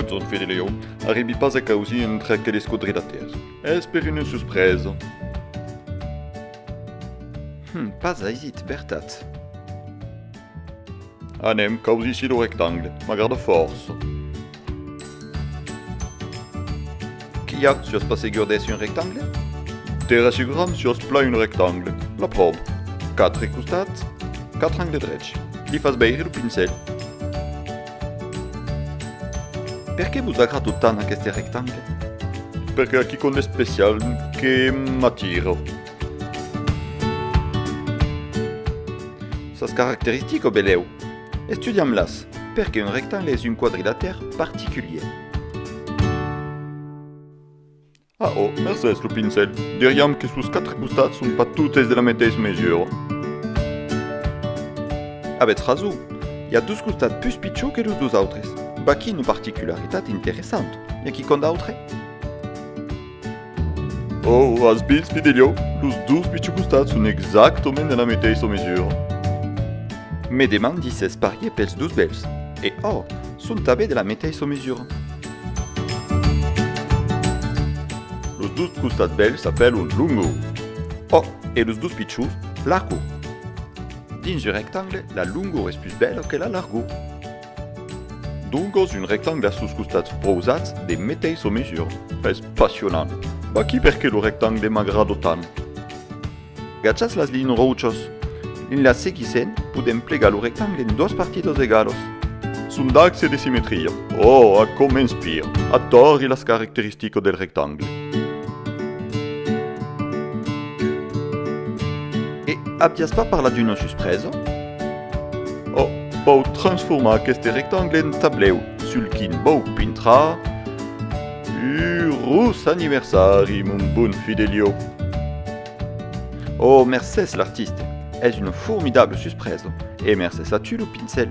Botson Fidelio arribi pas a causir entre aqueles quadrilatèrs. Es per una suspresa. Hum, pas aisit, vertat. Anem caus ici lo rectangle, m'agrada fòrça. Qu'i a sus pas segur d'èsser un rectangle? De rassuram sus plan un rectangle, la pròv. Quatre costats, quatre angles drechs. Li fas veire lo pincèl. Per qué vos agrada tant aqueste rectangle? Perque aquí qu'un especial que m'atira. Sas caracteristiques o belèu? Estudiam-las! Perqué un rectangle es un quadrilatèr particulier? Ah oh, mercés lo pincèl, diriam que sos quatre costats son pas totes de la meteissa mesura. Avètz rason, i a dos costats pus pichons que los dos autres. Vaquí una particularitat interessanta, i aquí quant d'autres? Oh, as vist, Fidelio? Los dos pichocostats son exactament de la meteissa mesura. Me demandi s'es parier pels dos bèls. E oh! Son tanben de la meteissa mesura. Los dos costats bèls s'apèlon longo. Oh! E los dos pichons, largo. Dins un rectangle, la longor es pus bèla que la largor. Doncas un rectangle sus costats prousats de meteissa mesura. Es passionant! Vaquí perqué lo rectangle m'agrada tant. Gachas las linhas rochas en las seguissent, podèm plegar lo rectangle en doas partidas egalas. Son d'axe de simetria. Oh, aquò m'inspira! Atori las caracteristicas del rectangle. E aviás pas parlat d'una suspresa? O pòu transformar aqueste rectangle en tablèu sul quin vòu pintrar Eurós aniversari, mon bon Fidelio! O mercés l'artiste, es una formidable suspresa e mercés a tu lo pincèl!